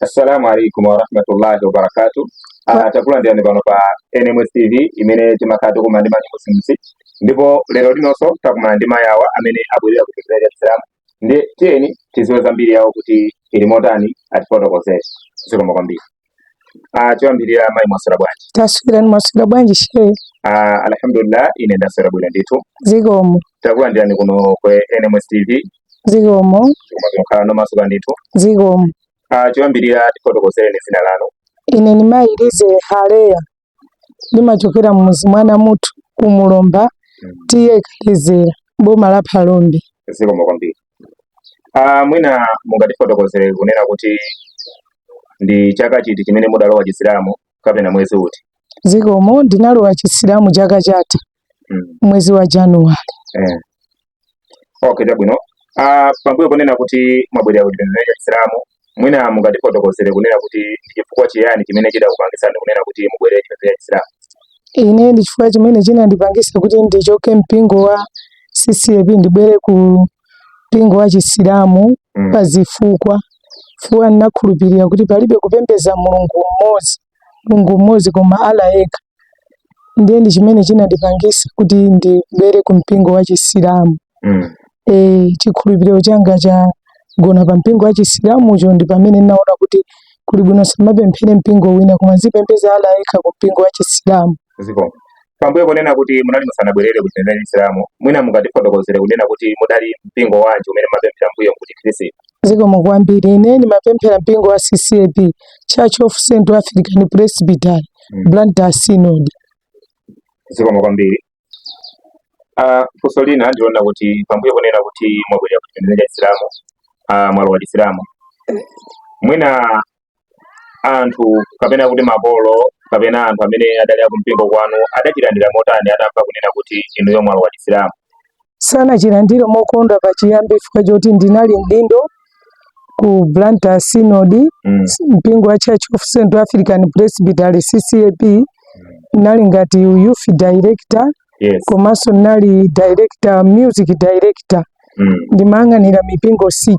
Assalamu alaikum warahmatullahi wabarakatu. Ah, takulandirani pano pa NMS TV imene timakhala tikumana ndi ma new Muslims ndipo lero linonso takumana ndi mayi awa amene abwerera kuchokera Chisilamu ndiye tiyeni tiziwe zambiri yawo kuti ili motani atifotokozere zikomo kwambiri ah choyambirira mayi mwaswera bwanji taswera ni mwaswera bwanji shehe ah alhamdulillah ine ndaswera bwino ndithu zikomo takulandirani kuno ku nms tv zikomo koma mungokhala nomasuka ndithu zikomo ah choyambirira tifotokozereni zina lanu ine ni mayi lize haleya ndimachokera mmuzi mwa Namuthu ku Mulomba T/A Kalizera boma la Phalombe. Zikomo kwambiri. Ah, mwina mungatifotokozere kunena kuti ndi chaka chiti chimene mudalowa Chisilamu kapena mwezi uti? Zikomo ndinalowa Chisilamu chaka chatha. mm. mwezi wa January eh. Okay, chabwino ah, pambuyo ponena kuti mwabwerera ku chipembedzo cha Chisilamu mwina mungatifotokozere kunena kuti ndi chifukwa chiyani chimene chidakupangitsani kunena kuti mubwerere chipembedzo cha Chisilamu? Ine ndi chifukwa chimene chinandipangisa kuti ndichoke mpingo wa CCAP ndibwere ku mpingo wa Chisilamu mm. pa zifukwa fukwa nnakhulupirira kuti palibe kupembeza mulungu mmodzi Mulungu mmodzi koma Allah yekha ndiye ndi chimene chinandipangisa kuti ndibwere ku mpingo wa Chisilamu mm. e, chikhulupiriro changa chagona pa mpingo wa Chisilamucho ndi pamene ndinaona kuti kuli bwino nsamapemphere mpingo wina koma nzipembeza Allah yekha ku mpingo wa Chisilamu zikomo pambuyo ponena kuti munali musanabwerere ku chipembedzo cha chisilamu mwina mungatifotokozere kunena kuti mudali mpingo wanji umene mmapemphera mmbuyomu ku chikhristu zikomo kwambiri ine ndimapemphera mpingo wa ccap church of central african presbytery mm. blantyre synod zikomo kwambiri uh, funso lina ndi lonena kuti pambuyo ponena kuti mwabwerera ku chipembedzo cha chisilamu uh, mwalowa chisilamu mwina anthu kapena kuti makolo kapena anthu amene adali akumpingo kwanu adachilandira motani atamva kunena kuti inuyo mwalowa chisilamu sanachilandire mokondwa pachiyambi chifukwa choti ndinali mdindo ku Blantyre Synod mm. mpingo wa Church of Central African Presbytery CCAP mm. nnali ngati youth director yes. komanso nali director music director mm. ndimayang'anira mipingo 6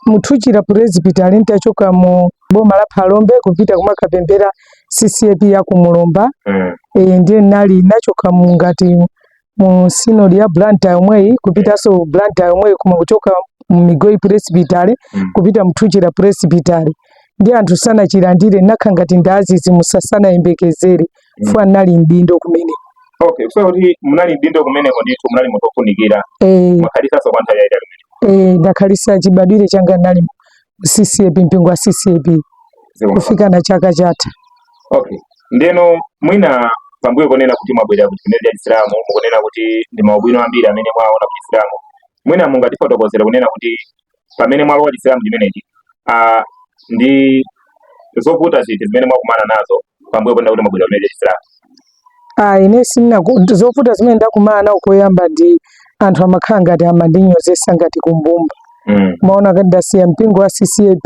mu Thuchila presbytery ntachoka mu boma la phalombe kupita kumakapemphera ccap ya ku mulomba mm. e, ndiye nali nachoka mu ngati mu synod ya Blantyre yomweyi kupitanso Blantyre yomweyi koma kuchoka mu Migowi presbytery mm. kupita mu Thuchila presbytery ndiye anthu sanachilandire nakhala ngati ndadzidzi musasanayembekezere chifukwa nali mdindo kumeneko okay so kuti munali mdindo kumeneko ndithu munali munthu ofunikira eh, mwakhalisanso kwa nthawi yaitali eh, ndakhalisa chibadwire changa nali mu ccap mpingo wa ccap Zikomo. kufika na chaka chatha okay ndeno mwina pambuyo ponena kuti mwabwerera ku chipembedzo cha chisilamu mukunena kuti ndi maubwino ambiri amene mwaona ku chisilamu mwina mungatifotokozere kunena kuti pamene mwalowa chisilamu chimenechi uh, ndi zovuta ziti zimene mwakumana nazo pambuyo ponena kuti mwabwerera chipembedzo cha chisilamu ah, ine zina zovuta zimene ndakumana nawo koyamba ndi anthu amakhala ngati amandinyozesa ngati kumbumba mm. amaona ngati ndasiya mpingo wa ccap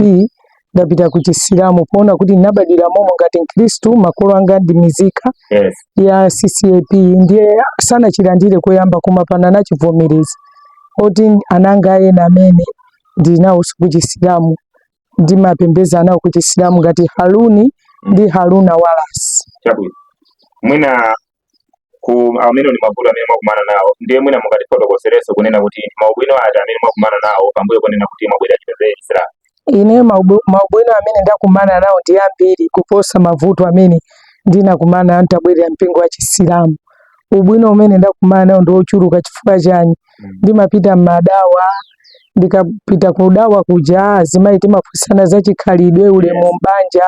ndapita ku chisilamu poona kuti ndinabadwira momo ngati mkhristu makolo anga ndi mizika yes. ya ccap ndiye sanachilandire koyamba koma pano anachivomereza moti ana anga ena amene ndinawonso ku chisilamu ndimapembedza nawo ku chisilamu ngati haruni ndi haruna walasi chabwino mwina amenewo ndi mavuto amene mwakumana nawo ndiye mwina mungatifotokozerenso kunena kuti maubwino ati amene mwakumana nawo pambuyo ponena kuti mwabwerera chipembedzo cha chisilamu ine maubu- maubwino amene ndakumana nawo ndi ambiri kuposa mavuto amene ndinakumana ntabwerera mpingo wa chisilamu ubwino umene ndakumana nawo ndi wochuluka chifukwa chani ndimapita mmadawa ndikapita kudawa kuja azimayi timaphunzitsana za chikhalidwe ulemu mbanja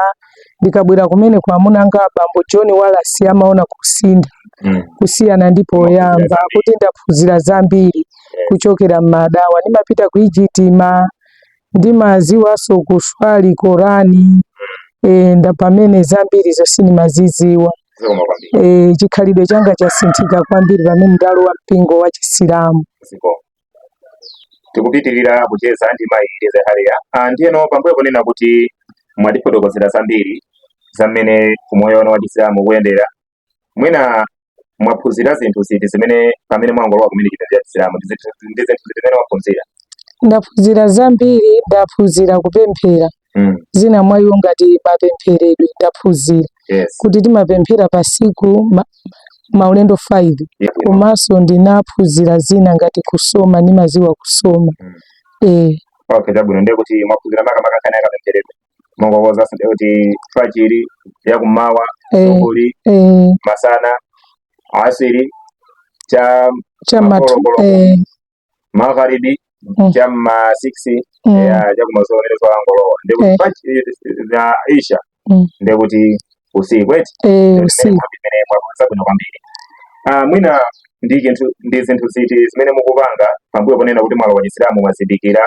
ndikabwera kumene kwa amuna anga abambo john walasi amaona kusintha Mm. kusiyana ndi poyamba kuti ndaphunzira zambiri kuchokera mmadawa ndimapita ku ijitima ndimadziwanso kuswali korani e, ndipamene zambiri zonse ndimazidziwa zikomo kwambiri e, chikhalidwe changa chasinthika kwambiri pamene ndalowa mpingo wa chisilamu zikomo tikupitirira kucheza ndi mayi Lize Haria ah, ndiyeno pambuyo ponena kuti mwatifotokozera zambiri za mmene umoyo wanu wa chisilamu ukuyendera mwina mwaphunzira zinthu ziti zimene pamene mwangolowa kumene chipembedzo cha chisilamu ndi zinthu zimene mwaphunzira ndaphunzira zambiri ndaphunzira kupemphera mm. zina mwa iwo ngati mapempheredwe ndaphunzira yes. kuti timapemphera pa siku ma, maulendo 5 yes. komanso ndinaphunzira zina ngati kusoma ndimaziwa kusoma mm. eh. okay, chabwino ndiye kuti mwaphunzira makamaka nkhani ya kapempheredwe mwakhoza ndiye kuti fajiri ya kummawa eh. zuhuri eh. masana asiri cha cha matu eh. magharibi mm. cha ma 6 mm. ya cha kumazulo ile dzuwa langolowa ndiye kuti eh. fachi ya Isha mm. ndiye kuti usiku eti eh usiku ndiye mwakhoza bwino kwambiri ah mwina ndi chinthu ndi zinthu ziti zimene mukupanga pambuyo ponena kuti mwalowa Chisilamu mwazindikira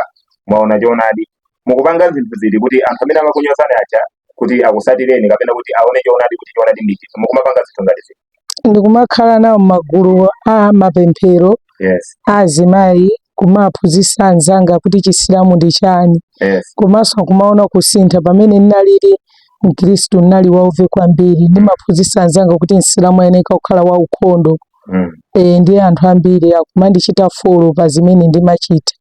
mwaona choonadi mukupanga zinthu ziti kuti anthu amene amakunyozani aja kuti akusatireni kapena kuti aone choonadi kuti choonadi ndi chiti mukumapanga zinthu ngati ziti ndikumakhala nawo magulu a mapemphero yes a azimayi kumaphunzitsa anzanga kuti chisilamu ndi chani yes komanso akumaona kusintha pamene ndinalili mkhristu ndinali wauve kwambiri ndimaphunzitsa anzanga kuti msilamu ayeneka kukhala waukhondo mm. e, ndi anthu ambiri akumandichita folo pa zimene ndimachita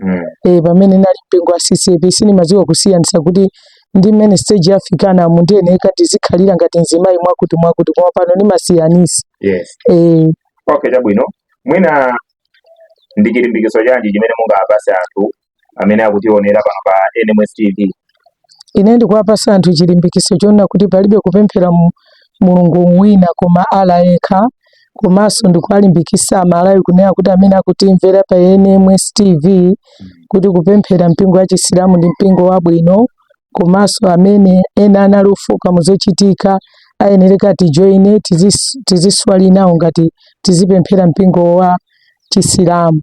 mm. e, pamene nali mpingo wa CCP sindimadziwa kusiyanitsa kuti ndi mmene stage yafikana mu ndiyeneka ndizikhalira ngati mzimayi mwakuti mwakuti koma pano ndimasiyanisa yes. e, okay chabwino mwina ndi chilimbikiso chanji chimene mungapase anthu amene akutionera pano pa NMS TV Ine ndikuwapasa anthu chilimbikiso chonena kuti palibe kupemphera mu- Mulungu wina koma Allah yekha komanso ndikuwalimbikisa Amalawi kunena kuti amene akutimvera pa NMS TV kuti kupemphera mpingo wa chisilamu ndi mpingo wabwino komanso amene ena anali ofoka muzochitika ayenereka atijoine tizis- tiziswali nawo ngati tizipemphera mpingo wa Chisilamu.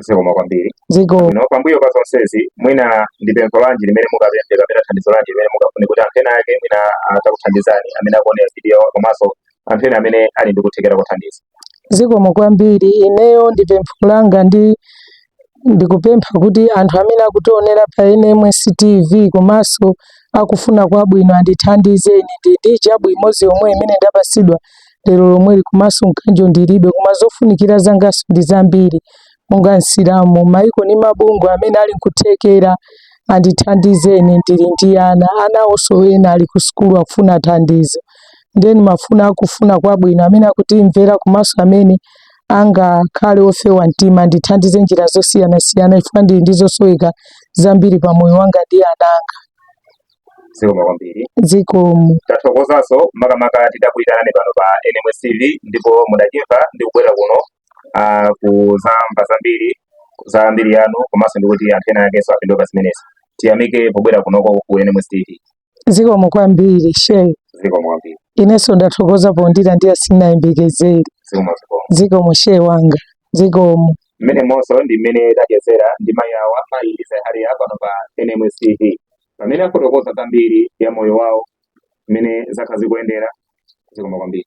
Zikomo kwambiri. Zikomo. No, pambuyo pa zonsezi mwina ndi pempho lanji limene mungapemphe kapena thandizo lanji limene mungafune kuti anthu ena ake mwina atakuthandizani amene akuonera video komanso anthu ena amene ali ndi kuthekera kothandiza? Zikomo kwambiri. Ineyo ndi pempho langa ndi ndikupempha kuti anthu amene akutionera pa NMS TV komanso akufuna kwabwino andithandize ine ndi hijabu imodzi yomwe imene ndapasidwa lero lomweli komanso mkanjo ndilibe koma zofunikira zanganso ndi zambiri monga msilamu maiko ni mabungwe amene ali nkuthekera andithandizeni ndili ndi ana anawonso ena ali ku sukulu akufuna thandizo ndeni mafuna akufuna kwabwino amene akutimvera komanso amene angakhale ofewa mtima andithandize njira zosiyanasiyana chifukwa ndili ndi zosoweka zambiri pa moyo wanga ndi ana anga zikomo kwambiri zikomo tathokozanso makamaka tidakuyitanani pano pa nms tv ndipo mudachimva ndi kubwera kuno ah, kuzamva zambiri za mbiri yanu komanso ndikuti anthu ena akenso apindule pa zimenezi tiyamike pobwera kunoko ku nms tv zikomo kwambiri shehe zikomo kwambiri inenso ndathokoza pondilandira sindinayembekezere zikomo zikomo zikomo shehe wanga zikomo mmenemonso ndi mmene tachezera ndi mayi awa mayi Eliza Hariya pano pa NMS TV pamene afotokoza zambiri ya moyo wawo mmene zakhala zikuyendera zikomo kwambiri